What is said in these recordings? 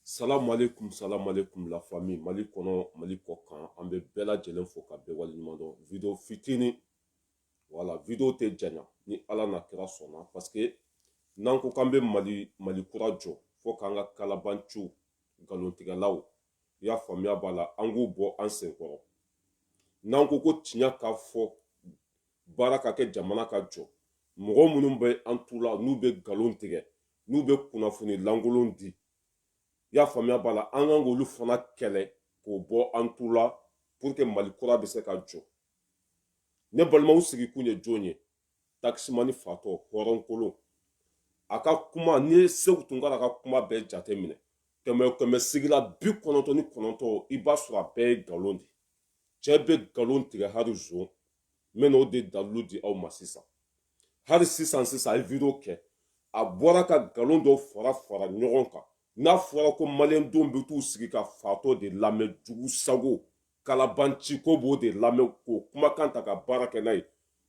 Salamu alaikum, salamu alaikum la famille. Mali kɔnɔ, Mali kɔkan, an bɛ bɛɛ lajɛlen fo ka bɛɛ waleɲuman dɔn. Video fitini, wala, video tɛ janya ni Ala n'a kira sɔnna parce que n'an ko k'an bɛ Mali Mali kura jɔ fo k'an ka kalabanciw nkalontigɛlaw i y'a faamuya b'a la an k'u bɔ an sen kɔrɔ n'an ko ko tiɲɛ ka fɔ baara ka kɛ jamana ka jɔ mɔgɔ minnu bɛ an tu la n'u bɛ nkalon tigɛ n'u bɛ kunnafoni lankolon di i y'a faamuya b'a la an kan k'olu fana kɛlɛ k'o bɔ an tu la pour que mali kura bɛ se ka jɔ ne balimaw sigikun ye jɔn ye takisimani fatɔ hɔrɔnkolon a ka kuma n'i ye segu tunkara ka kuma bɛɛ jate minɛ kɛmɛ o kɛmɛ sigi la bi kɔnɔntɔn ni kɔnɔntɔn i b'a sɔrɔ a bɛɛ ye nkalon de cɛ bɛ nkalon tigɛ hali zon n bɛna o de dalilu di aw ma sisan hali sisan sisan a ye video kɛ a bɔra ka nkalon dɔw fara fara ɲɔgɔn kan n'a fɔra ko maliyɛndenw bɛ t'u sigi ka fatɔ de lamɛn jugu sago kalabanci k'u b'o de lamɛn k'o kumakan ta ka baara kɛ n'a ye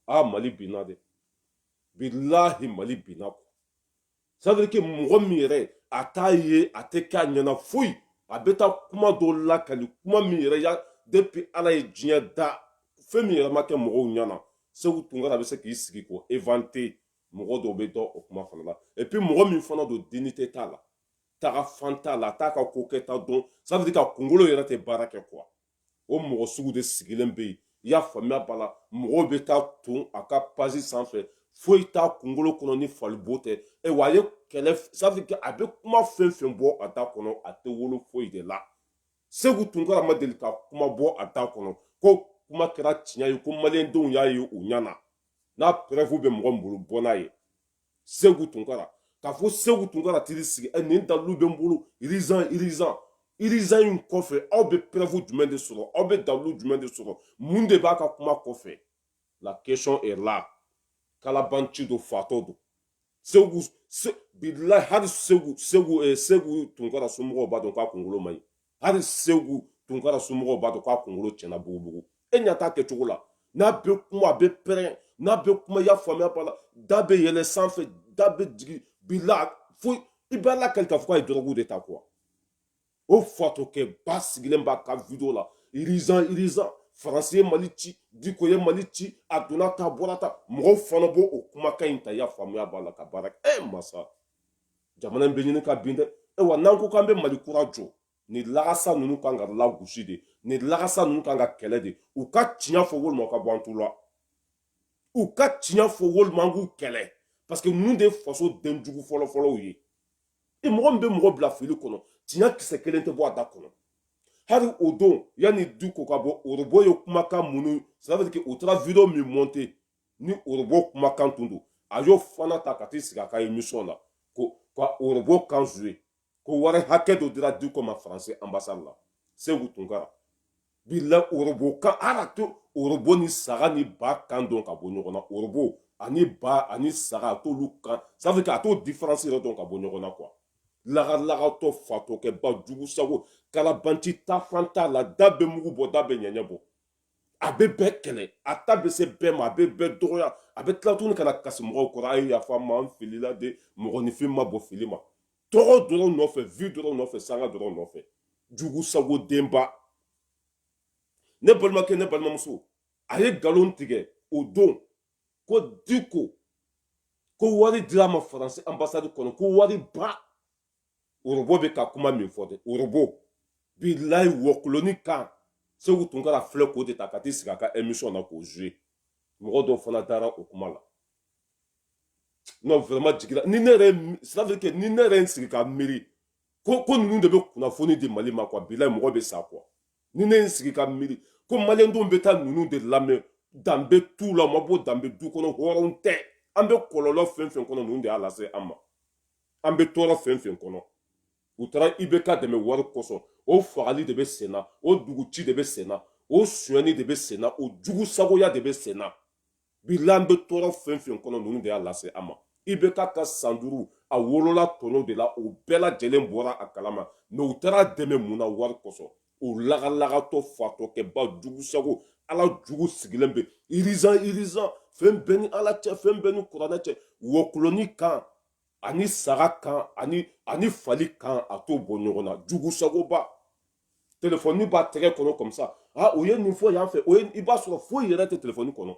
a mali binna de bilahi mali binna ko c'est-à-dire que mɔgɔ min yɛrɛ a t'a ye a tɛ k'a ɲɛna foyi a bɛ taa kuma dɔ lakali kuma min yɛrɛ depuis ala ye diɲɛ da fɛn min yɛrɛ ma kɛ mɔgɔw ɲɛna segu tunkara a bɛ se k'i sigi k'o inventer mɔgɔ dɔw bɛ da o kuma fana la epi mɔgɔ min fana don dignité t'a la taga fan t'a la a t'a ka ko kɛta dɔn c'est-à-dire k'a kunkolo yɛrɛ tɛ baara kɛ kuwa o mɔgɔ sugu de sigilen bɛ yen i y'a faamuya b'a la mɔgɔw bɛ taa ton a ka pazi sanfɛ foyi t'a kunkolo kɔnɔ ni falibo tɛ e wa a ye kɛlɛ sabu a bɛ kuma fɛn fɛn bɔ a da kɔnɔ a tɛ wolo foyi de la segu tunkara ma deli ka kuma bɔ a da kɔnɔ ko kuma kɛra tiɲɛ ye ko maliyɛndenw y'a ye u ɲɛ na n'a preuve bɛ mɔgɔ bolo bɔ n'a ye segu tunkara k'a fɔ segu tunkara tiri sigi ɛ ne dalilu bɛ n bolo urgent urgent urgent in kɔfɛ aw bɛ preuve jumɛn de sɔrɔ aw bɛ dalilu jumɛn de sɔrɔ mun de b'a ka kuma kɔfɛ la question est là kalabanci don fatɔ don segu se, bilahi hali segu segu eh, segu tunkara somɔgɔw b'a dɔn k'a kunkolo man ɲi hali segu tunkara somɔgɔw b'a dɔn k'a kunkolo tiɲɛna bugubugu e ɲɛ t'a kɛcogo la n'a bɛ kuma a bɛ pɛrɛn n'a bɛ kuma i y'a faamuya b'a la da bɛ yɛlɛ sanfɛ da bɛ jigin bi la fo i b'a lakali k'a fɔ k'a ye dɔrɔgu de ta kuwa o fatɔkɛba sigilen b'a ka video la urgent urgent faransi ye mali ci diko ye mali ci a donna tan bɔra tan mɔgɔw fana b'o o kumakan in ta i y'a faamuya b'a la ka baara kɛ e masa jamana in bɛ ɲini ka bin dɛ e wa n'an ko k'an bɛ mali kura jɔ ni lagasa ninnu kan ka lagosi de ni lagasa ninnu kan ka kɛlɛ de u ka tiɲɛ fɔ walima ka bɔ an tu la u ka tiɲɛ fɔ walima an k'u kɛlɛ parce que ninnu de ye fasoden jugu fɔlɔfɔlɔw ye e mɔgɔ min bɛ mɔgɔ bila fili kɔnɔ tiɲɛ kisɛ kelen tɛ bɔ a da kɔnɔ hali o don yanni diko ka bɔ orobo ye kumakan minnu c'est à dire que u taara video min monter ni orobo kumakan tun don a y'o fana ta ka t'i sigi a ka emission na ko ka orobo kan jouer ko wari hakɛ dɔ dira diko ma faransi ambasade la segu tunkara bilayi orobo kan ala a t'o orobo ni saga ni ba kan dɔn ka bɔ ɲɔgɔn na orobo ani ba ani saga a t'olu kan sabu a t'o diferansi yɛrɛ dɔn ka bɔ ɲɔgɔn na quoi lagalagatɔ fatɔkɛba jugu sago kalabanci taafan t'a la da bɛ mugu bɔ da bɛ ɲɛɲɛ bɔ a bɛ bɛɛ kɛlɛ a ta bɛ se bɛɛ ma a bɛ bɛɛ dɔgɔya a bɛ tila tuguni ka na kasi mɔgɔw kɔrɔ a ye yafa ma n filila de mɔgɔninfin ma bɔ fili ma tɔgɔ dɔrɔn nɔfɛ vue dɔrɔn nɔfɛ sanga dɔrɔn nɔfɛ jugu sago denba ne balimakɛ ne balimamuso a ye nkalon tigɛ o don ko diko ko wari dira ma faransi anbasadi kɔnɔ ko wari ba orobo bɛ ka kuma min fɔ de orobo bilayi wɔkuloni kan segu tunkara filɛ k'o de ta ka t'i sigi a ka emission na k'o jouer mɔgɔ dɔw fana dara o kuma la non vraiment jigira ni ne yɛrɛ c'est à dire que ni ne yɛrɛ n sigi ka miiri ko ko ninnu de bɛ kunnafoni di mali ma quoi bilayi mɔgɔ bɛ sa quoi ni ne n sigi ka miiri ko maliyɛndenw bɛ taa ninnu de lamɛn danbe t'u la u ma bɔ danbe du kɔnɔ hɔrɔnw tɛ an bɛ kɔlɔlɔ fɛn fɛn kɔnɔ ninnu de y'a lase an ma an bɛ tɔɔrɔ fɛn fɛn kɔnɔ u taara ibeka dɛmɛ wari kosɔn o fagali de bɛ senna o dugu ci de bɛ senna o sonyɛni de bɛ senna o jugu sagoya de bɛ senna bilayi an bɛ tɔɔrɔ fɛn fɛn kɔnɔ ninnu de y'a lase an ma ibeka ka san duuru a wolola tɔnɔ de la o bɛɛ lajɛlen bɔra a kalama mais u taara a dɛmɛ mun na wari kosɔn o lagalagatɔ fatɔkɛba jugu sago ala jugu sigilen bɛ urgent urgent fɛn bɛɛ ni ala cɛ fɛn bɛɛ ni kuranɛ cɛ wɔkuloni kan ani saga kan ani ani fali kan a t'o bɔ ɲɔgɔn na jugu sagoba telefɔni b'a tɛgɛ kɔnɔ comme ça a o ye nin fɔ yan fɛ o ye i b'a sɔrɔ foyi yɛrɛ tɛ telefɔni kɔnɔ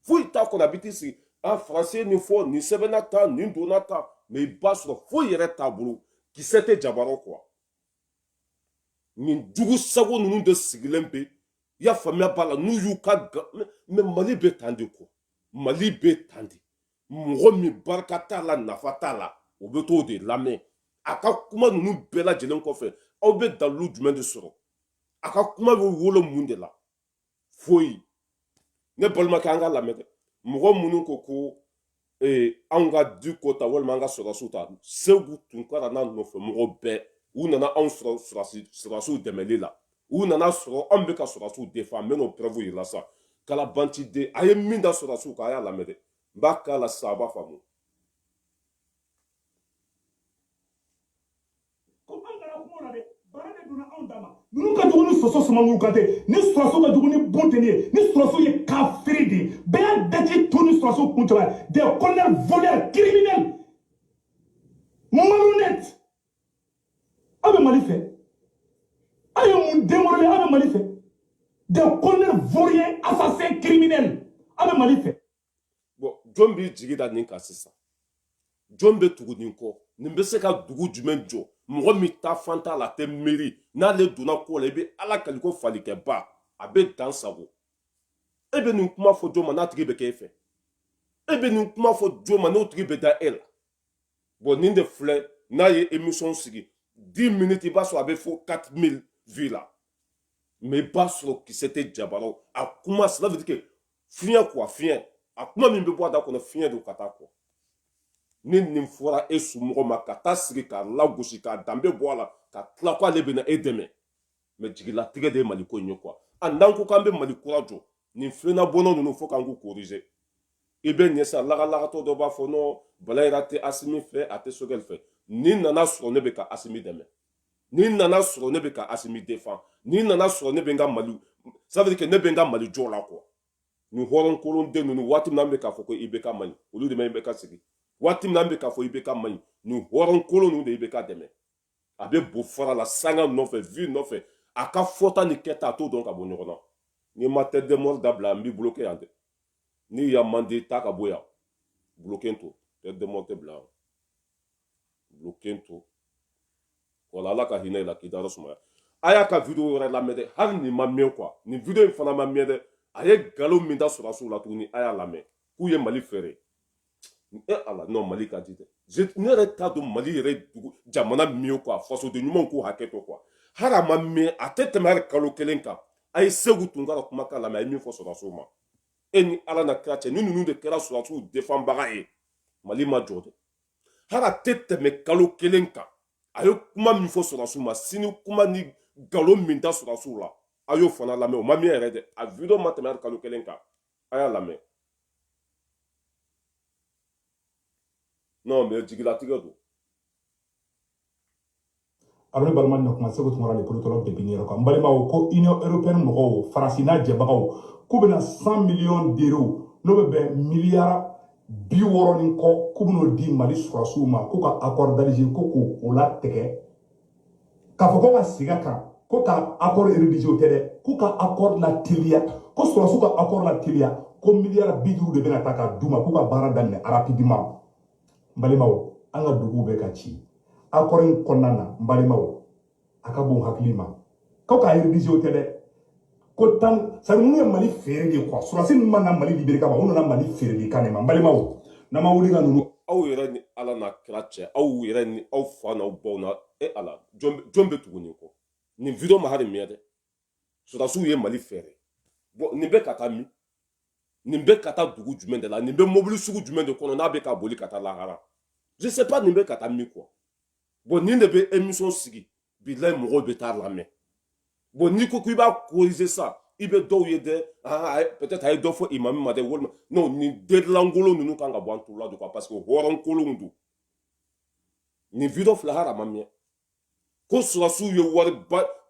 foyi t'a kɔnɔ a bɛ t'i sigi a faransi ye nin fɔ nin sɛbɛnna tan nin donna tan mais i b'a sɔrɔ foyi yɛrɛ t'a bolo kisɛ tɛ jaba rɔ quoi nin jugu sago ninnu de sigilen bɛ i y'a faamuya b'a la n'u y'u ka mais mali bɛ tan de quoi mali bɛ tan de mɔgɔ min barika t'a la nafa t'a la o bɛ t'o de lamɛn a ka kuma ninnu bɛɛ lajɛlen kɔfɛ aw bɛ dalilu jumɛn de sɔrɔ a ka kuma bɛ wolo mun de la foyi ne balimakɛ an k'a lamɛn dɛ mɔgɔ minnu ko ko ee, anw ka du ko ta walima an ka sɔrɔdasiw ta seku tunkara n'a nɔfɛ mɔgɔ bɛɛ u nana anw sɔrɔdasiw dɛmɛli la u nana sɔrɔ anw bɛ ka sɔrɔdasiw defan an bɛ n'o preuve yir'i la sisan kalabantiden a ye min da sɔrɔdasiw kan a y'a lamɛn dɛ n b'a k'a la sisan a b'a faamu ninnu ka jugu ni soso sumanguru kantɛ nin sɔrɔsiw ka jugu ni bunteni ye nin sɔrɔsiw ye kafiri de ye bɛɛ y'a daji to nin sɔrɔsiw kuncɛba ye des colonels voleurs criminels malhonnêtes aw bɛ mali fɛ aw ye mun denwolobe aw bɛ mali fɛ des colonels vauriens assassins criminels aw bɛ mali fɛ bɔn jɔn b'i jigi da nin kan sisan jɔn bɛ tugu nin kɔ nin bɛ se ka dugu jumɛn jɔ mɔgɔ min ta fan t'a la a tɛ miiri n'ale donna ko la i bɛ ala kali ko falikɛba a bɛ dan sago e bɛ nin kuma fɔ jɔn ma n'a tigi bɛ kɛ e fɛ e bɛ nin kuma fɔ jɔn ma n'o tigi bɛ da e la bɔn nin de filɛ n'a ye émission sigi 10 minutes i b'a sɔrɔ a bɛ fo 1000 vues la mais i b'a sɔrɔ kisɛ tɛ jabaraw a kuma cela veut dire que fiɲɛ quoi fiɲɛ a kuma min bɛ bɔ a da kɔnɔ fiɲɛ don ka taa kɔ ni nin fɔra e somɔgɔ ma ka taa sigi k'a lagosi k'a danbe bɔ a la ka tila ko ale bɛna e dɛmɛ mɛ jigilatigɛ de ye mali ko in ye kuwa a n'an ko k'an bɛ mali kura jɔ nin filenna bɔnɔ ninnu fo k'an k'u korize i b'a ye sa lagalagatɔ dɔ b'a fɔ non bala yɛrɛ tɛ asimi fɛ a tɛ sogɛli fɛ ni nana sɔrɔ ne bɛ ka asimi dɛmɛ ni nana sɔrɔ ne bɛ ka asimi defan ni nana sɔrɔ ne bɛ n ka mali sabiri kɛ ne bɛ n ka mali jɔ la kuwa nin hɔrɔn kolon den ninnu waati min an bɛ k'a fɔ ko ibk man ɲi olu de ma ibk sigi waati min an bɛ k'a fɔ ibk man ɲi nin hɔrɔn kolon ninnu de ibk dɛmɛ a bɛ bo fara la sanga nɔfɛ vi nɔfɛ a ka fɔta ni kɛta a t'o dɔn ka bɔ ɲɔgɔn na n'i ma tête de mort dabila n b'i bloke yan dɛ ɲamɔgɔden taa ka bɔ yan bloke to tête de mort tɛ bila yan bloke to wala ala ka hinɛ i la k'i dayɔrɔ sumaya a y'a ka video wɛrɛ lamɛn dɛ hali nin ma mɛn kuwa nin video in fana ma mɛn dɛ a ye nkalon min da sɔrɔsiw la tuguni a y'a lamɛn k'u ye mali feere e ala n'o mali ka di dɛ ne yɛrɛ t'a dɔn mali yɛrɛ dugu jamana min ye quoi fasoden ɲumanw k'u hakɛ to quoi hali a ma mɛn a tɛ tɛmɛ hali kalo kelen kan a ye seku tunkara kumakan lamɛn a ye min fɔ sɔrɔdasiw ma e ni ala n'a kira cɛ ni ninnu de kɛra sɔrɔdasiw defanbaga ye mali ma jɔ dɛ hali a tɛ tɛmɛ kalo kelen kan a ye kuma min fɔ sɔrɔdasiw ma sini kuma ni nkalon min da sɔrɔdasiw la a y'o fana lamɛn o ma mɛn yɛrɛ dɛ a video ma tɛmɛ hali kalo kelen kan a y'a lamɛn non mais jigilatigɛ don abri balima na kuma seku tunkara le politologue de new york kan balimaw ko union européenne mɔgɔw faransi n'a jɛbagaw k'u bɛna 100 millions d'euros n'o bɛ bɛn miliyara bi wɔɔrɔ ni kɔ k'u bɛn'o di mali sɔrɔdasiw ma k'u ka accord d'alger ko k'o latigɛ k'a fɔ ko ka sigi a kan ko ka accord rédiger o tɛ dɛ k'u ka accord lateliya ko sɔrɔdasiw ka accord lateliya ko miliyara bi duuru de bɛna ta k'a d'u ma k'u ka baara daminɛ rapidement n balimaw an ka duguw bɛ ka ci accord in kɔnɔna na n balimaw a ka bon hakili ma ko k'a réviser o tɛ dɛ ko tan sɔrɔdasi minnu ye mali feere de quoi sɔrɔdasi ninnu ma na mali libérer kama u nana mali feere de kan de ma n balimaw n'an ma wuli ka ninnu aw yɛrɛ ni ala n'a kira cɛ aw yɛrɛ ni aw fa n'aw baw na e ala jɔn bɛ- jɔn bɛ tugu nin kɔ nin video ma hali miɲɛ dɛ sɔrɔdasiw ye mali feere bon nin bɛ ka taa min nin bɛ ka taa dugu jumɛn de la nin bɛ mobili sugu jumɛn de kɔnɔ n'a bɛ ka boli ka taa lahara je sais pas nin bɛ ka taa min quoi bon nin de bɛ émission sigi bila mɔgɔw bɛ taa lamɛn bon n'i ko ko i b'a corriger sa i bɛ dɔw ye dɛ peut-être a ye dɔ fɔ i ma min ma dɛ walima n'o ni delilankolon ninnu kan ka bɔ an tu la don ka parce que hɔrɔnkolon don nin video filɛ hama mɛn ko sɔrɔdasiw ye wari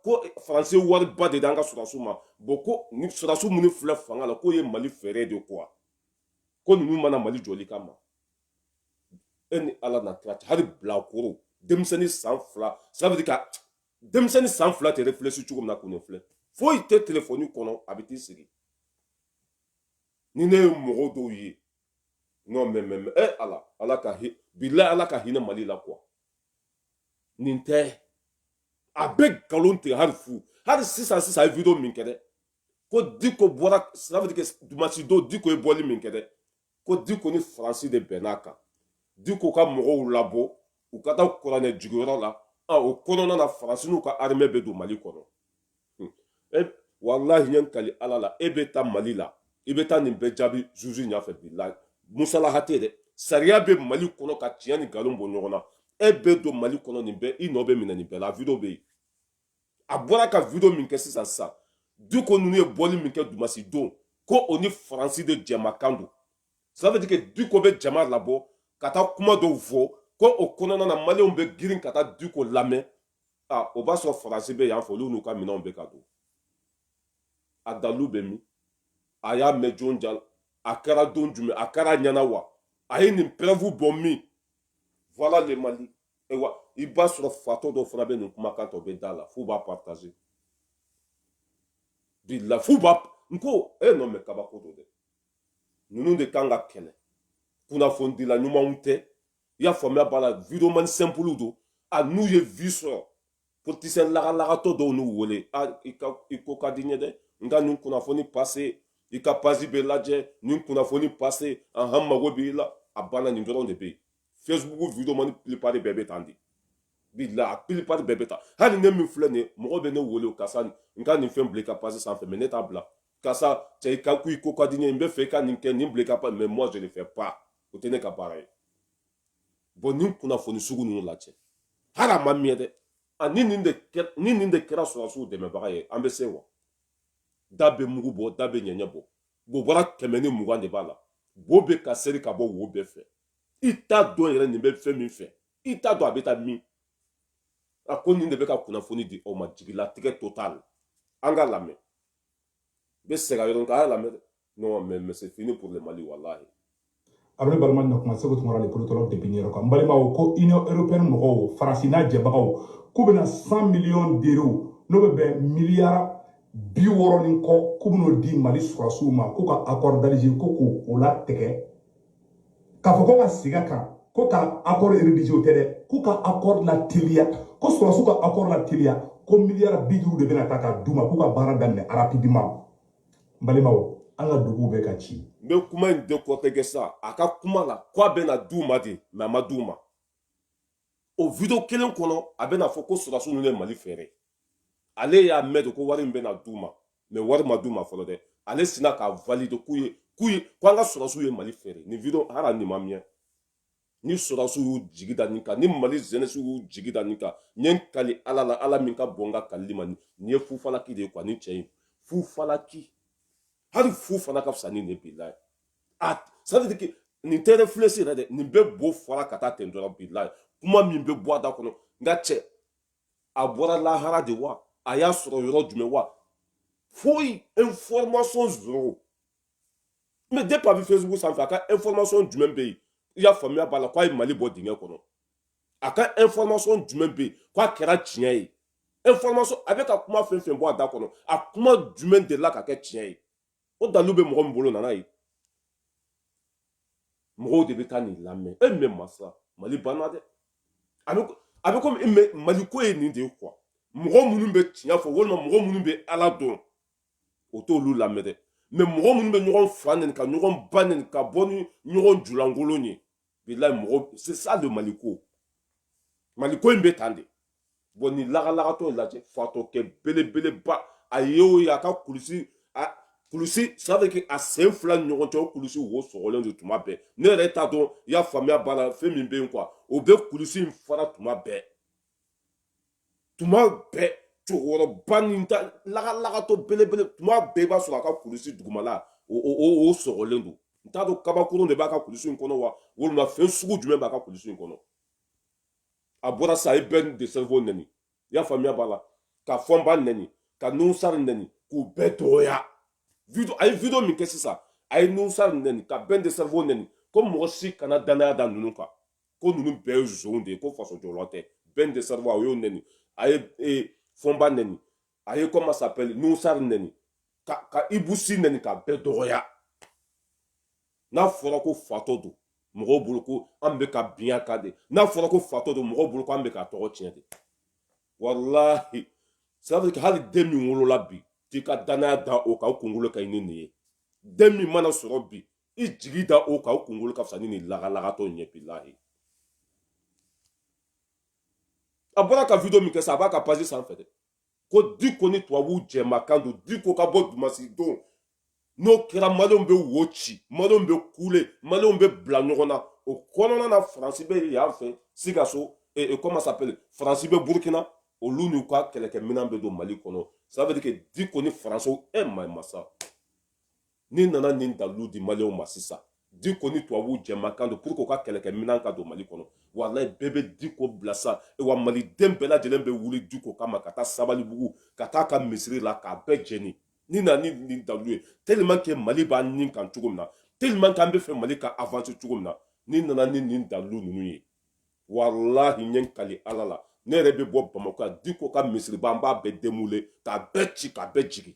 ko faransi wariba di an ka sɔrɔdasiw ma bon ko ni sɔrɔdasiw minnu filɛ fanga la k'o ye mali feere de ko ko ninnu ma na mali jɔli kama e ni ala n'a kira cɛ hali bilakoro denmisɛnnin san fila sira bɛ ka denmisɛnnin san fila tɛ réfléchir cogo min na k'o filɛ foyi tɛ telefɔni kɔnɔ a bɛ t'i sigi ni ne ye mɔgɔ dɔw ye n'o mɛ mɛ mɛ e ala ala ka hi bila ala ka hinɛ mali la quoi nin tɛ a bɛ nkalon tigɛ hali fo hali sisan sisan ye video min kɛ dɛ ko diko bɔra sira bɛ kɛ dimasi don diko ye bɔli min kɛ dɛ ko diko ni faransi de bɛnn'a kan diko ka mɔgɔw labɔ u ka taa kuranɛ jiginyɔrɔ la o kɔnɔna na faransi n'u ka armée bɛ don mali kɔnɔ hmm. e, walahi ye kali ala la e bɛ taa mali la i bɛ taa nin bɛɛ jaabi zuzu ɲɛfɛ bilahi musalaha tɛ dɛ sariya bɛ mali kɔnɔ ka tiɲɛ ni nkalon bɔ ɲɔgɔn na e bɛ don mali kɔnɔ nin bɛɛ i nɔ bɛ minɛ nin bɛɛ la video bɛ yen a bɔra ka video min kɛ sisan sisan diko ninnu ye bɔli min kɛ dimasi don ko o ni faransi de jɛmakan don ça veut dire que diko bɛ jama labɔ ka taa kuma dɔw fɔ ko o kɔnɔna na maliyɛnw bɛ girin ka taa diko lamɛn a o b'a sɔrɔ faransi bɛ yan fɛ olu n'u ka minɛnw bɛ ka don a dalilu bɛ min a y'a mɛn jɔn da a kɛra don jumɛn a kɛra a ɲɛna wa a ye nin preuve bɔ min voilà le mali ayiwa i b'a sɔrɔ fatɔ dɔ fana bɛ nin kumakan tɔ bɛ da la f'u b'a partager bi la f'u b'a n ko e non mais kabako don dɛ ninnu de kan ka kɛlɛ kunnafonidila ɲumanw tɛ i y'a faamuya b'a la videomani simple don a n'u ye vue sɔrɔ politisiyɛn lagalagatɔ dɔw n'u wele a i ka i ko ka di n ye dɛ n ka nin kunnafoni pase i ka pasi bɛ lajɛ nin kunnafoni pase ahan mago b'i la a banna nin dɔrɔn de bɛ yen facebook video man ni plupart bɛɛ bɛ tan de bila a plupart bɛɛ bɛ tan hali ne min filɛ nin ye mɔgɔ bɛ ne wele karisa n ka nin fɛn bila i ka pasi sanfɛ mais ne t'a bila karisa cɛ i ka ko i ko ka di ne ye n b'a fɛ i ka nin kɛ nin bila i ka pasi mais moi je ne fais pas o tɛ ne ka baara ye bon nin kunnafoni sugu ninnu lajɛ hali a ma miyɛn dɛ ani nin de kɛ ni nin de kɛra sɔrɔdasiw dɛmɛbaga ye an bɛ se wa da bɛ mugu bɔ da bɛ ɲɛɲɛ bɔ bobara kɛmɛ ni mugan de b'a la bo bɛ ka seri ka bɔ wo bɛɛ fɛ i t'a dɔn yɛrɛ nin bɛ fɛn min fɛ i t'a dɔn a bɛ taa min a ko nin de bɛ ka kunnafoni di aw ma jigilatigɛ tɔ t'a la an k'a lamɛn bɛ segin yɔrɔ k'a lamɛn dɛ non mais c'est fini pour le mali wallahi abri balima na kuma seku tunkara le politologue de new york kan balimaw ko union européenne mɔgɔw faransi n'a jɛbagaw k'u bɛna 100 millions d'euros n'o bɛ bɛn miliyara bi wɔɔrɔ ni kɔ k'u bɛn'o di mali sɔrɔdasiw ma k'u ka accord d'alger ko k'o o latigɛ k'a fɔ ko ka sig'a kan ko ka accord rédigé o tɛ dɛ k'u ka accord lateliya ko sɔrɔdasiw ka accord lateliya ko miliyara bi duuru de bɛna ta ka d'u ma k'u ka baara daminɛ rapidement n balimaw an ka duguw bɛ ka ci n bɛ kuma in décortiquer sa a ka kuma la ko a bɛna d'u ma de mais a ma d'u ma o video kelen kɔnɔ a bɛna fɔ ko sɔrɔdasiw ninnu ye mali feere ale y'a mɛn de ko wari min bɛna d'u ma mais wari ma d'u ma fɔlɔ dɛ ale sina k'a valider k'u ye k'u ye ko an ka sɔrɔdasiw ye mali feere nin video hali nin ma miyɛn ni sɔrɔdasiw y'u jigi da nin kan ni mali zenɛsiw y'u jigi da nin kan n ye n kali ala la ala min ka bon n ka kalili ma nin ye fufalaki de ye quoi ni cɛ in fufalaki hali fu fana ka fisa ni nin billahi a sadiki nin tɛ réfléchir yɛrɛ dɛ nin bɛ bo fɔra ka taa ten dɔrɔn billahi kuma min bɛ bɔ a da kɔnɔ n ka cɛ a bɔra lahara de wa a y'a sɔrɔ yɔrɔ jumɛn wa foyi information zéro mais depuis a bɛ facebook sanfɛ a ka information jumɛn bɛ yen i y'a faamuya b'a la k'a ye mali bɔ dingɛ kɔnɔ a ka information jumɛn bɛ yen k'a kɛra tiɲɛ ye information a bɛ ka kuma fɛn fɛn bɔ a da kɔnɔ a kuma jumɛn delila ka kɛ tiɲɛ ye o dalu bɛ mɔgɔ min bolo na n'a ye mɔgɔw de bɛ taa nin lamɛn e mais masa mali banna dɛ a bɛ a bɛ komi e mais mali ko ye nin de ye quoi mɔgɔ minnu bɛ tiɲɛ fɔ walima mɔgɔ minnu bɛ ala dɔn u t'olu lamɛn dɛ mais mɔgɔ minnu bɛ ɲɔgɔn fa neni ka ɲɔgɔn ba neni ka bɔ ni ɲɔgɔn julankolon ye bilayi mɔgɔ c'est ça le mali ko mali ko in bɛ tan de bon nin lagalagatɔ in lajɛ fatɔkɛ belebeleba a ye o ye a ka kulusi a kulusi c'est-à-dire que a sen fila ni ɲɔgɔn cɛ o kulusi wo sɔgɔlen don tuma bɛɛ ne yɛrɛ t'a dɔn i y'a faamuya voilà fɛn min bɛ yen quoi o bɛ kulusi in fara tuma bɛɛ tuma bɛɛ cɛkɔrɔba nin ta lagalagatɔ belebele tuma bɛɛ i b'a sɔrɔ a ka kulusi dugumala o o o sɔgɔlen don n t'a dɔn kabakurun de b'a ka kulusi in kɔnɔ wa walima fɛn sugu jumɛn b'a ka kulusi in kɔnɔ a bɔra sa i bɛn le cerveau nɛni i y'a faamuya voilà ka fɔnba nɛni ka nusari nɛni k'u bɛɛ dɔgɔya video a ye video min kɛ sisan a ye nusari nɛni ka bɛn le cerveau nɛni ko mɔgɔ si kana danaya da ninnu kan ko ninnu bɛɛ ye zon de ye ko faso jɔrɔ tɛ bɛn le cerveau a y'o nɛni a ye e, fɔnba nɛni a ye comment s'appelle nusari nɛni ka ka ibu si nɛni ka bɛɛ dɔgɔya n'a fɔra ko fatɔ don mɔgɔw bolo ko an bɛ ka bin a kan de n'a fɔra ko fatɔ don mɔgɔw bolo ko an bɛ k'a tɔgɔ tiɲɛ de walahi safiri hali den min wolola bi t'i ka danaya da o kan o kunkolo ka ɲi ni nin ye den min mana sɔrɔ bi i jigi da o kan o kunkolo ka fisa ni nin lagalagatɔ ye bilahi a bɔra ka video min kɛ sa a b'a ka page sanfɛ dɛ ko diko ni tubabuw jɛmakan don diko ka bɔ dimansi don n'o kɛra maliyɛnw bɛ wo ci maliyɛnw bɛ kule maliyɛnw bɛ bila ɲɔgɔn na o kɔnɔna na faransi bɛ yan fɛ sikaso eh, eh, comment s'appelle faransi bɛ burukina olu n'u ka kɛlɛkɛminɛn bɛ don mali kɔnɔ ça veut dire que diko ni faransiw e eh, ma masa n'i nana nin dalilu di maliw ma sisan diko ni tubabu jɛmakan don pour que u ka kɛlɛkɛminɛn ka don mali kɔnɔ walayi bɛɛ bɛ diko bila sa e wa maliden bɛɛ lajɛlen bɛ wuli diko kama ka taa sabalibugu ka taa a ka misiri la k'a bɛɛ jɛni n'i nana ni nin dalilu ye tellement que mali b'an nin kan cogo min na tellement que an bɛ fɛ mali ka avancer cogo min na n'i nana ni nin dalilu ninnu ye walahi n ye n kali ala la ne yɛrɛ bɛ bɔ bamakɔ yan diko ka misiriba an b'a bɛɛ démolir k'a bɛɛ ci k'a bɛɛ jigin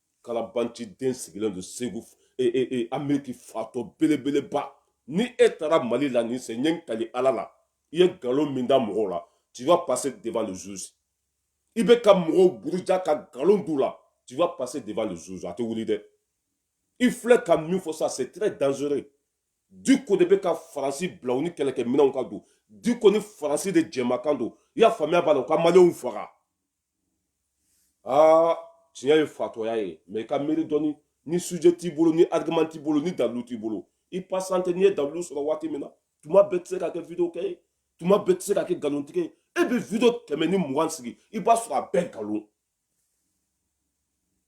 kalabanci den sigilen don segu e, e, e, ameriki fatɔ belebeleba ni e taara mali la nin sen n ye n kali ala la i ye nkalon min da mɔgɔw la tu vas passer devant le juge i bɛ ka mɔgɔw buruja ka nkalon d'u la tu vas passer devant le juge a tɛ wuli dɛ i filɛ ka min fɔ sa c'est très dangereux diko de bɛ ka faransi bila u ni kɛlɛkɛminɛnw ka don diko ni faransi de jɛmakan don i y'a faamuya voilà u ka maliyɛnw faga aa tiɲɛ ye fatɔya ye mɛ i ka miiri dɔɔni ni sujet t'i bolo ni argument t'i bolo ni dalilu t'i bolo i patienter n'i ye dalilu sɔrɔ waati min na tuma bɛɛ tɛ se ka kɛ video kɛ ye tuma bɛɛ tɛ se ka kɛ nkalontigɛ ye e bɛ video kɛmɛ ni mugan sigi i b'a sɔrɔ a bɛɛ nkalon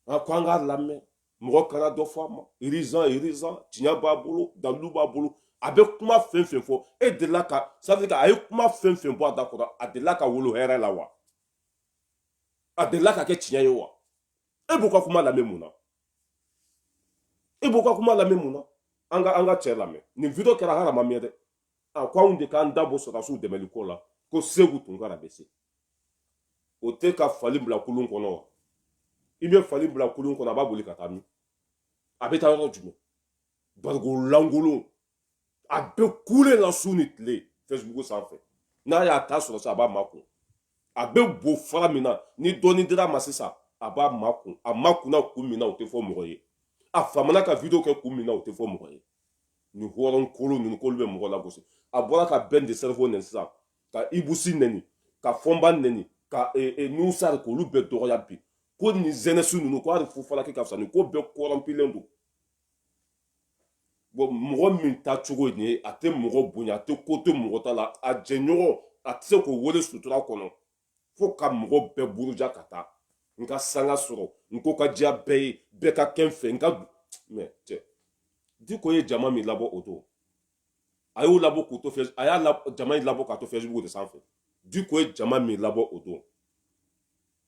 a ko an k'a lamɛn mɔgɔ kana dɔ fɔ a ma urgent urgent tiɲɛ b'a bolo dalilu b'a bolo a bɛ kuma fɛn fɛn fɔ e delila ka c'est-à-dire que a ye kuma fɛn fɛn bɔ a da kɔrɔ a delila ka wolo hɛrɛ la wa a delila ka kɛ tiɲɛ ye wa e b'u ka kuma lamɛn mun na e b'u ka kuma lamɛn mun na an ka an ka cɛ lamɛn nin video kɛra hali a ma mɛn dɛ a ko anw de k'an da bɔ sɔrɔdasiw dɛmɛli ko la ko seku tunkara bɛ se o tɛ ka fali bila kulun kɔnɔ wa i bɛ fali bila kulun kɔnɔ a b'a boli ka taa min a bɛ taa yɔrɔ jumɛn barikon lankolon a bɛ kule la su ni tile facebook sanfɛ n'a y'a ta sɔrɔ sa a b'a makun a bɛ bo fara min na ni dɔɔni dir'a ma sisan a b'a makun a makunna kun min na o tɛ fɔ mɔgɔ ye a famana ka video kɛ kun min na o tɛ fɔ mɔgɔ ye nin hɔrɔn kolo ninnu k'olu bɛ mɔgɔ lagosi a bɔra ka ben le cerveau nɛni sisan ka ibu si nɛni ka fɔnba nɛni ka e, e, nu sari k'olu bɛɛ dɔgɔya bi ko nin jeunesse ninnu ko hali fufalaki ka fisa nin ko bɛɛ kɔrɔnpulen don bon mɔgɔ min ta cogo nin ye a tɛ mɔgɔ bonya a tɛ ko to mɔgɔ ta la a jɛɲɔgɔn a tɛ se k'o wele sutura kɔnɔ fo ka mɔgɔ bɛɛ buruja ka taa n ka sanga sɔrɔ n ko ka diya bɛɛ ye bɛɛ ka kɛ n fɛ n ka mɛ cɛ diko ye jama min labɔ o don a y'o labɔ k'o to fɛ a ye jama in labɔ k'a to facebook de sanfɛ diko ye jama min labɔ o don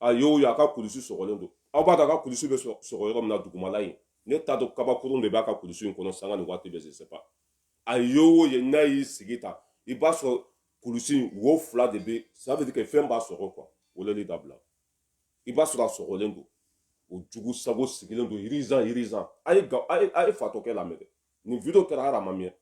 a y'o ye a ka kulusi sɔgɔlen don aw b'a dɔn a ka kulusi bɛ sɔgɔ yɔrɔ min na dugumala ye ne t'a dɔn kabakurun de b'a ka kulusi in kɔnɔ sanga ni waati bɛɛ je sais pas a y'o ye n'a y'i sigi ta i b'a sɔrɔ kulusi in wo fila de bɛ ça veut dire que fɛn b'a sɔgɔ quoi wololi dabila i b'a sɔrɔ a sɔgɔlen don o jugu sago sigilen don urgent urgent a ye a ye fatɔkɛ lamɛn dɛ nin video kɛra hali a ma mɛn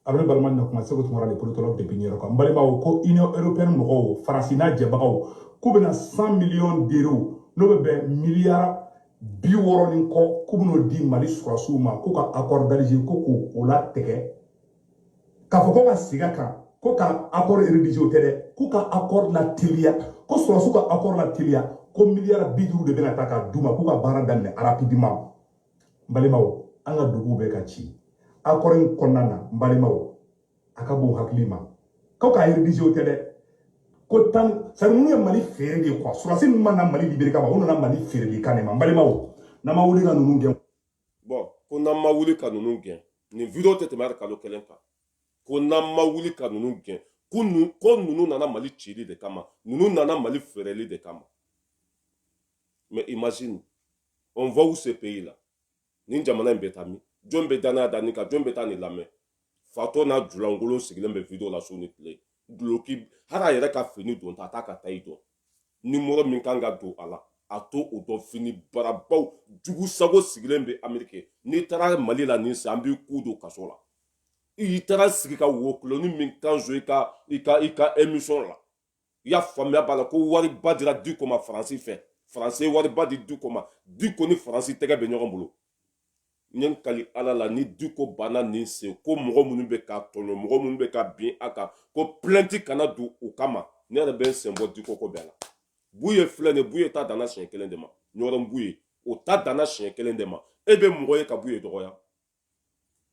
abiri balima na kuma seku tunkara le politologue depuis new york an balimaw ko union européenne mɔgɔw faransi n'a jɛbagaw k'u bɛna 100 millions d'euros n'o bɛ bɛn miliyara bi wɔɔrɔ ni kɔ k'u bɛn'o di mali sɔrɔdasiw ma k'u ka accord d'alger ko k'o o latigɛ k'a fɔ ko ka sigi a kan ko ka accord rédigé o tɛ dɛ k'u ka accord lateliya ko sɔrɔdasiw ka accord lateliya ko miliyara bi duuru de bɛna ta ka d'u ma k'u ka baara daminɛ rapidement n balimaw an ka duguw bɛ ka ci accord in kɔnɔna na n balimaw a ka bon hakili ma ko k'a reviser o tɛ dɛ ko tan sari minnu ye mali feere de ye quoi surasi ninnu ma na mali libere kama u nana mali feereli kan de ma n balimaw n'an ma wuli ka ninnu gɛn bon ko n'an ma wuli ka ninnu gɛn nin video tɛ tɛmɛ hali kalo kelen kan ko n'an ma wuli ka ninnu gɛn ko ninnu nana mali cili de kama ninnu nana mali feereli de kama mais imagine on va où ce pays là nin jamana in bɛ taa min jɔn bɛ danaya da nin kan jɔn bɛ taa nin lamɛn fatɔ n'a julankolon sigilen bɛ video la su ni tile duloki hali a yɛrɛ ka fini donta a t'a ka tayi dɔn nimɔrɔ min kan ka don a la a t'o dɔn fini barabaw jugu sago sigilen bɛ amerike n'i taara mali la nin san an b'i ku don kaso la i taara sigi ka wo kuloni min kan so i ka i ka i ka emisɔn la i y'a faamuya b'a la ko wariba dira diko ma faransi fɛ faransi ye wariba di diko ma diko ni faransi tɛgɛ bɛ ɲɔgɔn bolo n ye n kali ala la ni diko banna nin sen ko mɔgɔ minnu bɛ ka tɔɲɔ mɔgɔ minnu bɛ ka bin a kan ko pilɛnti kana don u kama ne yɛrɛ bɛ n sen bɔ diko ko bɛɛ la buye filɛ nin buye ta danna siɲɛ kelen de ma ɲɔrɔ buye o ta danna siɲɛ kelen de ma e bɛ mɔgɔ ye ka buye dɔgɔya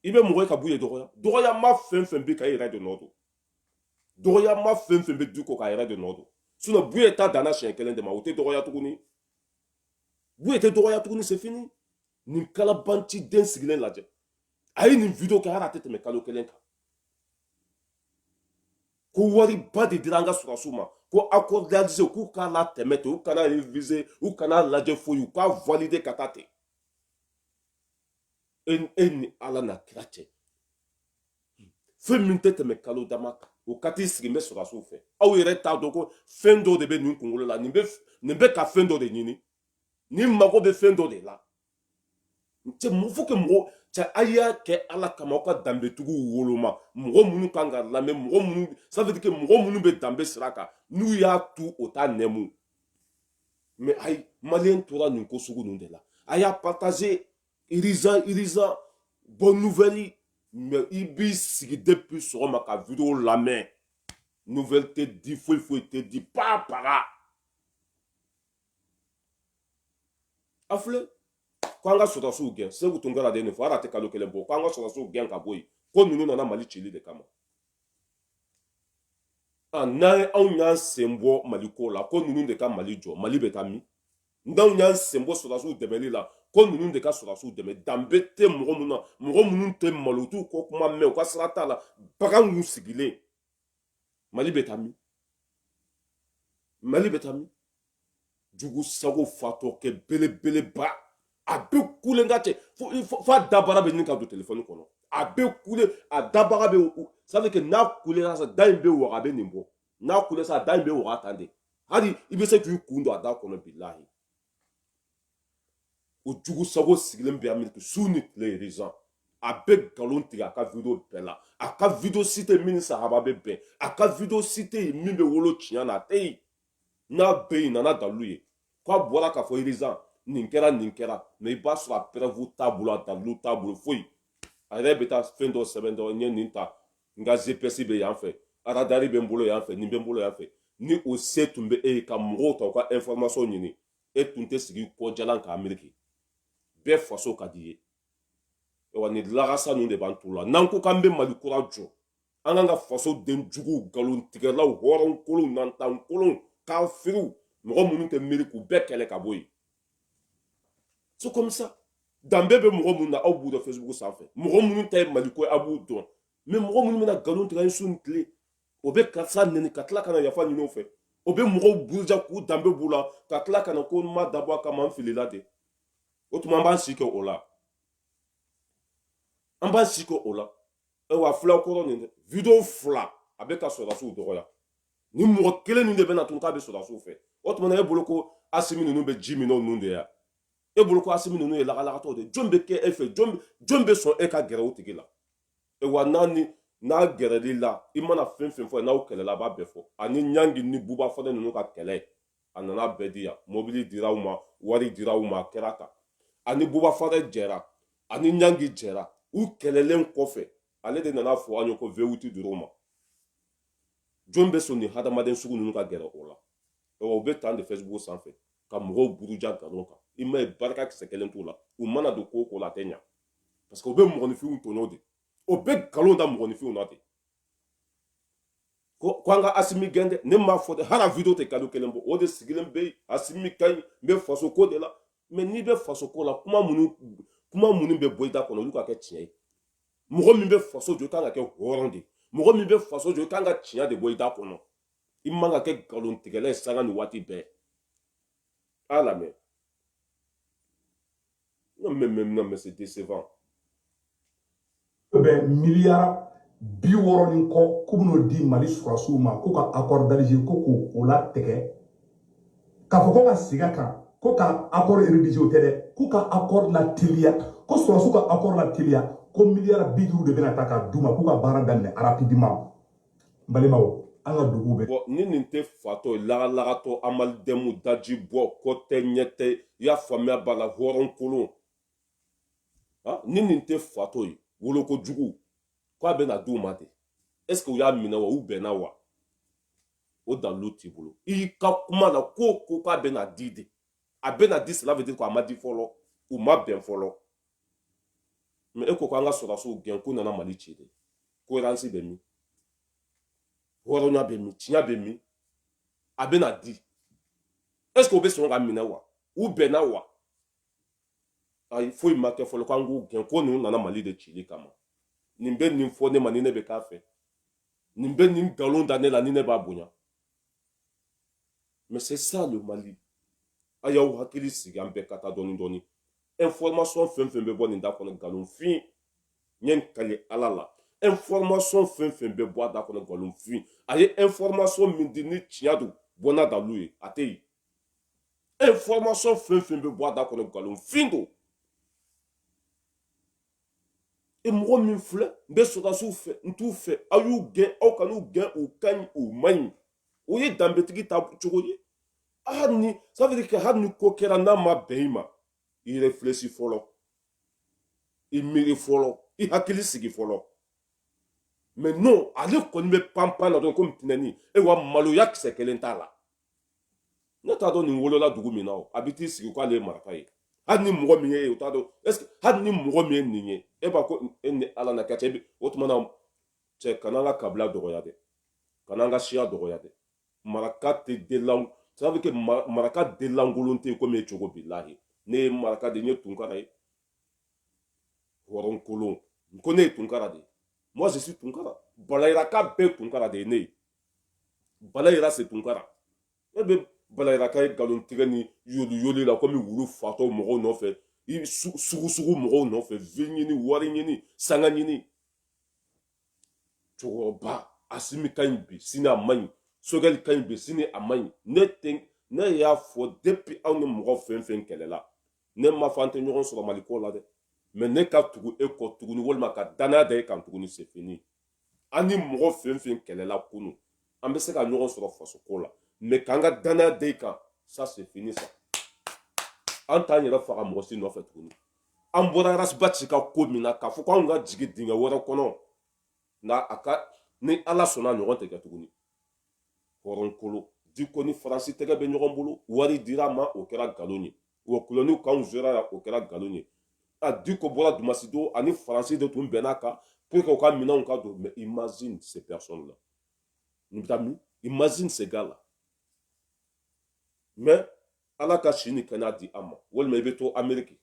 i bɛ mɔgɔ ye ka buye dɔgɔya dɔgɔyama fɛn fɛn b'i kan e yɛrɛ de nɔ don dɔgɔyama fɛn fɛn bɛ diko kan a yɛrɛ de nɔ don sinɔn buye ta danna siɲɛ kelen de ma o tɛ dɔgɔya tuguni buye tɛ dɔgɔya tuguni c'est fini nin kalabanci den sigilen lajɛ a ye nin video kɛ hali a tɛ tɛmɛ kalo kelen kan ko wariba de dira an ka surasiw ma ko accord d'Alger k'u k'a latɛmɛ ten u kana reviser u kana lajɛ foyi u k'a valider ka taa ten e, e ni ala n'a kira cɛ fɛn min tɛ tɛmɛ kalo dama kan o ka t'i sigi n bɛ sɔrɔdasiw fɛ aw yɛrɛ t'a dɔn ko fɛn dɔw de bɛ nin kunkolo la nin bɛ nin bɛ ka fɛn dɔ de ɲini nin mago bɛ fɛn dɔ de la cɛ mun fo ka mɔgɔ cɛ a y'a kɛ ala kama aw ka danbetigiw woloma mɔgɔ minnu kan ka lamɛn mɔgɔ minnu safetike mɔgɔ minnu bɛ danbe sira kan n'u y'a tu u t'a nɛmu mais ayi maliyɛn tora nin ko sugu ninnu de la a y'a partaze iriza iriza bɔ nuvɛli mɛ i b'i sigi depi sɔgɔma ka video lamɛn nuvɛli tɛ di foyi foyi tɛ di paa paga a filɛ ko an ka sɔrɔdasiw gɛn segu tun kɛra de nin fɔ hali a tɛ kalo kelen bɔ ko an ka sɔrɔdasiw gɛn ka bɔ yen ko ninnu nana mali cili de kama n'an ye anw y'an sen bɔ mali ko la ko ninnu de ka mali jɔ mali bɛ taa min n'anw y'an sen bɔ sɔrɔdasiw dɛmɛli la ko ninnu de ka sɔrɔdasiw dɛmɛ danbe tɛ mɔgɔ minnu na mɔgɔ minnu tɛ malo dɔn ko kuma mɛn u ka sira t'a la baganw sigilen mali bɛ taa min mali bɛ taa min jugu sago fatɔkɛ belebeleba a bɛ kule ka cɛ fo a dabara bɛ ɲini ka don telefɔni kɔnɔ a bɛ kule a dabara bɛ sabu kɛ n'a kulela sa da in bɛ waga a bɛ nin bɔ n'a kulela sa da in bɛ waga tan de hali i bɛ se k'i kun don a da kɔnɔ bilahi o jugu sago sigilen bɛ ameriki su ni tile urgent a bɛ nkalon tigɛ a ka video bɛɛ la a ka video si tɛ min ni sahaba bɛ bɛn a ka video si tɛ yen min bɛ wolo tiɲɛ na a tɛ yen n'a bɛ yen na n'a dalilu ye k'a bɔra k'a fɔ urgent nin kɛra nin kɛra mɛ i b'a sɔrɔ a preuve t'a bolo a dalilu t'a bolo foyi a yɛrɛ bɛ taa fɛn dɔ sɛbɛn dɔrɔn n ye nin ta n ka zepɛsi bɛ yan fɛ aradari bɛ n bolo yan fɛ nin bɛ n bolo yan fɛ ni o se tun bɛ e ye ka mɔgɔw ta u ka ɛnfɔrɔmasɔn ɲini e tun tɛ sigi kɔjalan ameriki bɛɛ faso ka di i ye wa ni lagasa ninnu de b'an t'u la n'an ko k'an bɛ mali kura jɔ an kan ka fasodenjuguw nkalontigɛlaw hɔrɔn kolon nantan kolon kafiriw mɔgɔ minnu tɛ miiri k'u bɛɛ kɛlɛ ka bɔ yen so comme ça danbe bɛ mɔgɔ minnu na aw b'u dɔn facebook sanfɛ mɔgɔ minnu ta ye mali ko aw b'u dɔn mɛ mɔgɔ minnu bɛ na nkalon tigɛ su ni tile o bɛ karisa neni ka tila ka na yafa ɲini a fɛ o bɛ mɔgɔw buruja k'u danbe b'u la ka tila ka na ko n ma dabɔ a kama n filila de o tuma an b'an si kɛ o la an b'an si kɛ o la ayiwa fulakɔrɔ nin video fila a bɛ ka sɔrɔdasiw dɔgɔya ni mɔgɔ kelen nin de bɛ na tun k'a bɛ sɔrɔdasiw fɛ o tuma na e bolo ko asimi ninnu bɛ ji min n'o ninnu de ya e bolo ko asimi ninnu ye lagalagatɔw de jɔn bɛ kɛ e fɛ jɔn bɛ sɔn e ka gɛrɛ o tigi la e wa n'a ni n'a gɛrɛl'i la i mana fɛn fɛn fɔ n'aw kɛlɛla a b'a bɛɛ fɔ ani ɲangi ni buba fanɛ ninnu ka kɛlɛ a nana a bɛɛ di yan mobili dira u ma wari dira u ma a kɛra tan a ni buba fanɛ jɛra a ni ɲangi jɛra u kɛlɛlen kɔfɛ ale de nana a fɔ an ye ko vewuti dir'u ma jɔn bɛ sɔn nin hadamaden sugu ninnu ka gɛrɛ o la o bɛ tan de facebook sanfɛ ka mɔgɔw buruja nkalon kan i m'a ye barika kisɛ kelen t'u la u mana don ko ko la a tɛ ɲa parce que u bɛ mɔgɔninfinw tɔɲɔ de o bɛ nkalon da mɔgɔninfinw na ten ko an ka asimi gɛn dɛ ne m'a fɔ dɛ hali video tɛ kalo kelen bɔ o de sigilen bɛ asimi ka ɲi n bɛ faso ko de la mɛ n'i bɛ faso ko la kuma minnu kuma minnu bɛ bɔ i da kɔnɔ olu ka kɛ tiɲɛ ye mɔgɔ min bɛ faso jɔ i kan ka kɛ hɔrɔn de mɔgɔ min bɛ faso jɔ i kan ka tiɲɛ de bɔ i da kɔnɔ i man ka kɛ nkalontigɛla ye sanga ni waati bɛɛ Ah la mère. Non, mais, mais, non, mais c'est décevant. Eh ben, milliard bi wɔɔrɔ ni kɔ k'u bɛn'o di mali sɔrɔdasiw ma k'u ka accord d'alger ko k'o latigɛ k'a fɔ ko ka sigi a kan ko ka accord rédigé o tɛ dɛ k'u ka accord lateliya ko sɔrɔdasiw ka accord lateliya ko miliyari bi duuru de bɛna ta ka d'u ma k'u ka baara daminɛ rapidement n balimaw an ka duguw bɛ bɔ ni nin tɛ fatɔ ye lagalagatɔ amalidɛmu daji bɔ kɔ tɛ ɲɛ tɛ i y'a faamuya b'a la hɔrɔn kolon ah, ni nin tɛ fatɔ ye woloko jugu k'a bɛna d'u ma ten est ce que u y'a minɛ wa u bɛnna wa o dalilu t'i bolo i ka kuma na ko ko k'a bɛna di de a bɛna di cela veut dire ko a ma di fɔlɔ u ma bɛn fɔlɔ mais e ko ko an ka sɔrɔdasiw gɛn k'u nana mali ci de cohérence bɛ min hɔrɔnya bɛ min tiɲɛ bɛ min a bɛna di est ce que o bɛ sɔn k'a minɛ wa u bɛnna wa ayi foyi ma kɛ fɔlɔ k'an k'u gɛn ko ninnu nana mali de cili kama nin bɛ nin fɔ ne ma ni ne bɛ k'a fɛ nin bɛ nin nkalon da ne la ni ne b'a bonya Mais c'est ça le Mali. A y'aw hakili sigi an bɛɛ ka taa dɔɔni dɔɔni. Information fɛn fɛn bɛ bɔ nin da kɔnɔ nkalonfin ye n kali Ala la. Information fɛn fɛn bɛ bɔ a da kɔnɔ nkalonfin. A ye information min di ni tiɲɛ don bɔ n'a dalu ye a tɛ yen. Information fɛn fɛn bɛ bɔ a da kɔnɔ nkalonfin don. e mɔgɔ min filɛ n bɛ sɔrɔdasiw fɛ n t'u fɛ aw y'u gɛn aw kan'u gɛn u ka ɲi u ma ɲi o ye danbetigi ta cogo ye hali ni sabari kɛ hali ni ko kɛra n'a ma bɛn i ma i réfléchi fɔlɔ i miiri fɔlɔ i hakili sigi fɔlɔ mais non ale kɔni bɛ panpan na dɔrɔn komi tinɛnin e wa maloya kisɛ kelen t'a la ne t'a dɔn nin wolola dugu min na o a bɛ t'i sigi k'ale ye maraka ye hali ni mɔgɔ min ye o t'a dɔn est ce que hali ni mɔgɔ min ye nin ye e b'a ko e ni ala na ka cɛ bi o tuma na cɛ kana an ka kabila dɔgɔya dɛ kana an ka siya dɔgɔya dɛ maraka tɛ delan sabu kɛ maraka delankolon tɛ komi e cogo bilahi ne ye maraka de ye tunkara ye hɔrɔnkolon ko ne ye tunkara de ye moi je suis tunkara balayiraka bɛɛ tunkara de ye ne ye balayira c'est tunkara e bɛ balayiraka ye nkalon tigɛ ni yoli yoli la komi wulu fatɔ mɔgɔw nɔfɛ i sugu sugu mɔgɔw nɔfɛ vue ɲini wari ɲini sanga ɲini cɛkɔrɔba asimi ka ɲi bi sini a man ɲi sogɛli ka ɲi bi sini a man ɲi ne tɛ ne y'a fɔ depuis aw ni mɔgɔ fɛn fɛn kɛlɛla ne ma fɔ an tɛ ɲɔgɔn sɔrɔ mali ko la dɛ mais ne ka tugu e kɔ tuguni walima ka danaya da e kan tuguni c'est fini an ni mɔgɔ fɛn fɛn kɛlɛla kunun an bɛ se ka ɲɔgɔn sɔrɔ fasoko la mais k'an ka danaya da e kan ça c'est fini ça an t'an yɛrɛ faga mɔgɔ si nɔfɛ tuguni an bɔra ras bath ka ko min na k'a fɔ ko anw ka jigin dingɛ wɛrɛ kɔnɔ nka a ka ni ala sɔnna o ɲɔgɔn tɛ kɛ tuguni hɔrɔnkolon diko ni faransi tɛgɛ bɛ ɲɔgɔn bolo wari dir'a ma o kɛra nkalon ye wa kulɔniw k'anw sera la o kɛra nkalon ye a diko bɔra dimasi don ani faransi de tun bɛn'a kan pour que u ka minɛnw ka don mais imagine ces personnes là n bɛ taa min imagine ces gars là mais ala ka si ni kɛnɛya di a ma walima i bɛ to ameriki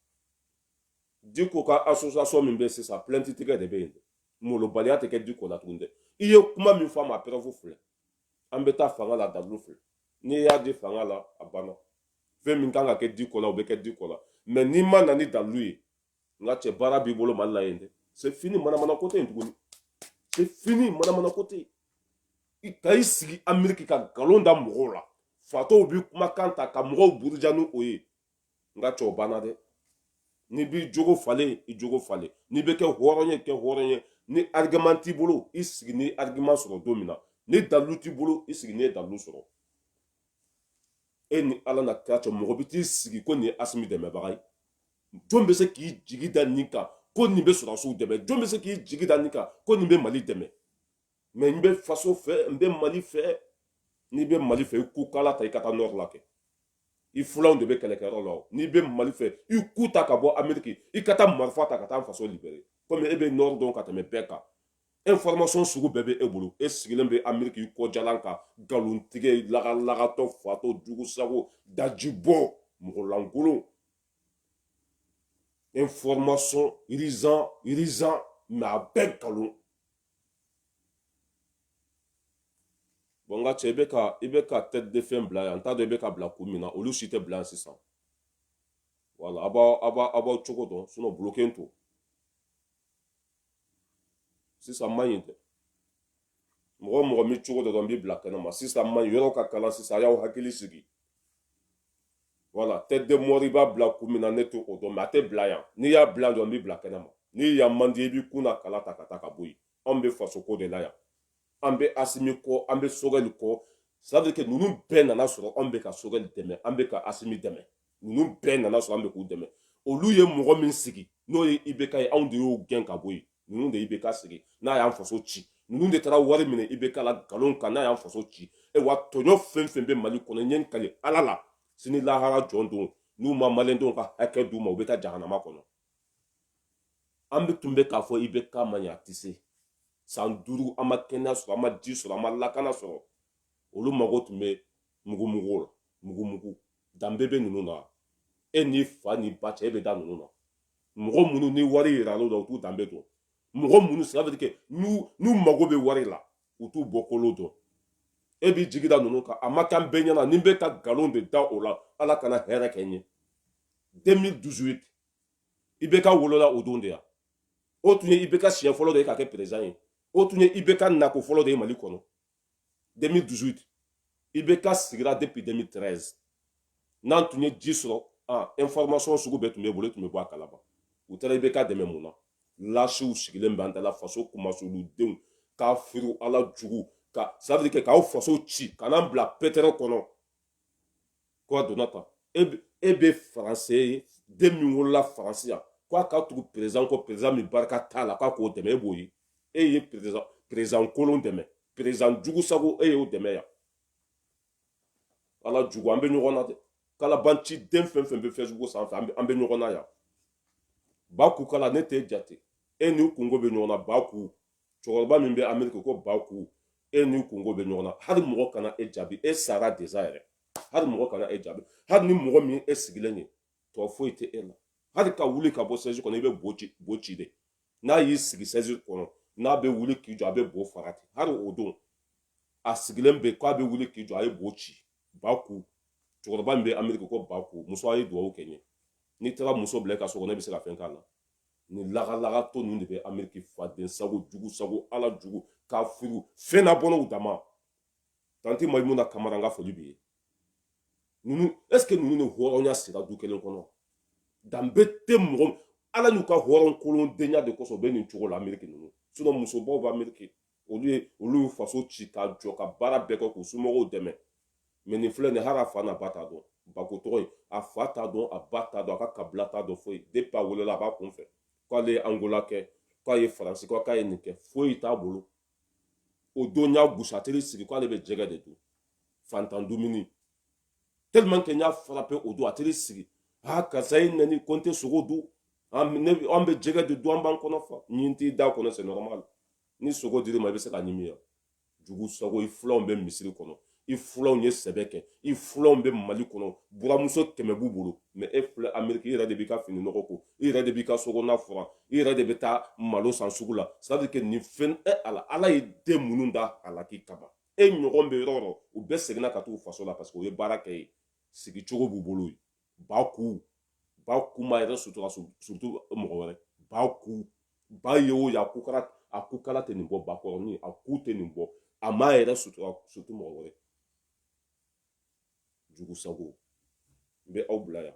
diko ka association min bɛ sisan plainte tigɛ de bɛ yen dɛ malobaliya tɛ kɛ diko la tuguni dɛ i ye kuma min fɔ a ma a preuve filɛ an bɛ taa fanga la dalu fɛ n'i y'a di fanga la a banna fɛn min kan ka kɛ diko la o bɛ kɛ diko la mɛ n'i ma na ni dalu ye n ka cɛ baara b'i bolo mali la yen dɛ c'est fini manamana ko tɛ yen tuguni c'est fini manamana ko tɛ yen i ka i sigi ameriki ka nkalon da mɔgɔw la fatɔw bɛ kumakan ta ka mɔgɔw buruja ni o ye n ka cɛ o banna dɛ n'i b'i jogo falen i jogo falen n'i bɛ kɛ hɔrɔn ye kɛ hɔrɔn ye ni argument t'i bolo i sigi n'i argument sɔrɔ don min na ni dalu t'i bolo i sigi n'i dalu sɔrɔ e ni ala n'a kira cɛ mɔgɔ bɛ t'i sigi ko nin ye asimi dɛmɛbaga ye jɔn bɛ se k'i jigi da nin kan ko nin bɛ sɔrɔdasiw dɛmɛ jɔn bɛ se k'i jigi da nin kan ko nin bɛ mali dɛmɛ mɛ n bɛ faso fɛ n bɛ mali fɛ n'i bɛ mali fɛ i ku kala ta i ka taa nɔri la kɛ i fulanw de bɛ kɛlɛkɛyɔrɔ la o n'i bɛ mali fɛ i ku ta ka bɔ ameriki i ka taa marifa ta ka taa faso libérer komi e bɛ nɔri dɔn ka tɛmɛ bɛɛ kan information sugu bɛɛ bɛ e bolo e sigilen bɛ ameriki i kɔjalan kan nkalontigɛ lagalagatɔ fatɔ jugu sago dajibɔ mɔgɔlankolon information urgent urgent mɛ a bɛɛ nkalon bɔn n ka cɛ i bɛ ka i bɛ ka tête de fɛn bila yan n t'a dɔn i bɛ ka bila kun min na olu si tɛ bila yan sisan wala a b'aw a b'a a b'aw cogo dɔn sinɔn bloquer n to sisan man ɲi dɛ mɔgɔ mɔgɔ m'i cogo dɔ dɔn n b'i bila kɛnɛ ma sisan man ɲi yɔrɔ ka kalan sisan a y'aw hakili sigi wala tête de mort i b'a bila kun min na ne t'o dɔn mɛ a tɛ bila yan n'i y'a bila dɔrɔn n b'i bila kɛnɛ ma ni yan man di i b'i kun na kala ta ka taa ka bɔ yen anw bɛ fasoko de la yan an bɛ asimi kɔ an bɛ sogɛli kɔ c'est-à-dire que ninnu bɛɛ nana sɔrɔ anw bɛ ka sogɛli dɛmɛ an bɛ ka asimi dɛmɛ ninnu bɛɛ nana sɔrɔ an bɛ k'u dɛmɛ olu ye mɔgɔ min sigi n'o ye ibeka ye anw de y'o gɛn ka bɔ yen ninnu de ibeka sigi n'a y'an faso ci ninnu de taara wari minɛ ibeka la nkalon kan n'a y'an faso ci e wa tɔɲɔ fɛn fɛn bɛ mali kɔnɔ n ye n kali ala la sini lahara jɔ don n'u ma malidenw ka hakɛ d'u ma u bɛ taa jahanama kɔnɔ an bɛ tun bɛ k'a fɔ ibeka ma ɲɛ a tɛ se san duuru an ma kɛnɛya sɔrɔ an ma ji sɔrɔ an ma lakana sɔrɔ olu mago tun bɛ mugumugu la mugumugu danbe bɛ ninnu na e n'i fa n'i ba cɛ e bɛ da ninnu na mɔgɔ minnu ni wari yirala u la u t'u danbe dɔn mɔgɔ minnu sira bɛ kɛ n'u mago bɛ wari la u t'u bɔkolo dɔn e b'i jigi da ninnu kan a ma k'an bɛɛ ɲɛna ni n bɛ ka nkalon de da u la ala kana hɛrɛ kɛ n ye 2018 IBK wolola o don de yan o tun ye IBK siɲɛ fɔlɔ de ye ka kɛ perezidan ye o tun ye IBK nako fɔlɔ de ye mali kɔnɔ 2018 IBK sigira depuis 2013 n'an tun ye ji sɔrɔ ah, information sugu bɛɛ tun b'u bolo tun bɛ bɔ a kalama u taara IBK dɛmɛ mun na lasiw sigilen bɛ an dala faso kumasuludenw kafiri ala jugu ka sabiri kɛ k'aw faso ci ka n'an bila pétrin kɔnɔ ko a donna tan e bɛ faransi e den min wolola faransi yan ko a ka tugu perezidan kɔ perezidan min barika t'a la k'a k'o dɛmɛ e b'o ye e ye perezidan perezidan kolon dɛmɛ perezidan jugu sago e y'o dɛmɛ yan ala jugu an bɛ ɲɔgɔn na dɛ kalabanci den fɛn fɛn bɛ fɛsibuku sanfɛ an bɛ ɲɔgɔn na yan baku kala ne t'e jate e n'i kunko bɛ ɲɔgɔn na baku cɛkɔrɔba min bɛ ameriki ko baku e n'i kunko bɛ ɲɔgɔn na hali mɔgɔ kana e jaabi e sara deza yɛrɛ hali mɔgɔ kana e jaabi hali ni mɔgɔ min e sigilen ye tɔ foyi tɛ e la hali ka wuli ka bɔ sɛzi kɔnɔ i bɛ bo ci bo ci de n'a y'i sigi sɛzi kɔnɔ n'a bɛ wuli k'i jɔ a bɛ bo faga ten hali o don a sigilen bɛ k'a bɛ wuli k'i jɔ a ye bo ci baku cɛkɔrɔba min bɛ ameriki ko baku muso a ye dugawu kɛ n ye n'i taara muso bila i ka so kɔnɔ ne bɛ se ka fɛn k'a la nin lagalagatɔ ninnu de bɛ ameriki faden sago jugu sago ala jugu kafiri fɛn na bɔnɛw dama tanti mayimuna kamara n ka foli b'i ye ninnu est ce que ninnu ni hɔrɔnya sira du kelen kɔnɔ danbe tɛ mɔgɔ ala n'u ka hɔrɔn kolondenya de kosɔn u bɛ nin cogo la ameriki ninnu sinon musobaw bɛ ameriki olu ye olu y'u faso ci ka jɔ ka baara bɛɛ kɛ k'u somɔgɔw dɛmɛ mɛ nin filɛ nin hali a fa n'a ba t'a dɔn baku tɔgɔ ye a fa t'a dɔn a ba t'a dɔn a ka kabila t'a dɔn foyi depi a wolola a b'a kun fɛ k'ale ye angola kɛ k'a ye faransi kɛ k'a ye nin kɛ foyi t'a bolo o don y'a gusateli sigi k'ale bɛ jɛgɛ de dun fantan dumuni tellement kɛ n y'a frappé o don a teri sigi aa karisa ye nani ko n tɛ sogo dun an bɛ jɛgɛ de dun an b'an kɔnɔ fa ɲin t'i da kɔnɔ c'est normal ni sogo dir'i ma i bɛ se k'a ɲimi yan jugu sago i filanw bɛ misiri kɔnɔ i filanw ye sɛbɛ kɛ i filanw bɛ mali kɔnɔ buramuso kɛmɛ b'u bolo mɛ e filɛ ameriki i yɛrɛ de b'i ka fini nɔgɔ ko i yɛrɛ de b'i ka so kɔnɔna furan i yɛrɛ de bɛ taa malo san sugu la sadike nin fɛn e ala ala ye den minnu da halaki kama e ɲɔgɔn bɛ yɔrɔ o yɔrɔ u bɛɛ seginna ka taa faso la parce que u ye baara kɛ ye sigicogo b'u bolo baku ba ku m'a yɛrɛ sutura surtout mɔgɔ wɛrɛ baku ba ye o ye a ku kala a ku kala tɛ nin bɔ bakɔrɔnin a ku tɛ nin bɔ a m'a yɛrɛ sutura surtout mɔgɔ wɛrɛ jugu sago n bɛ aw bila yan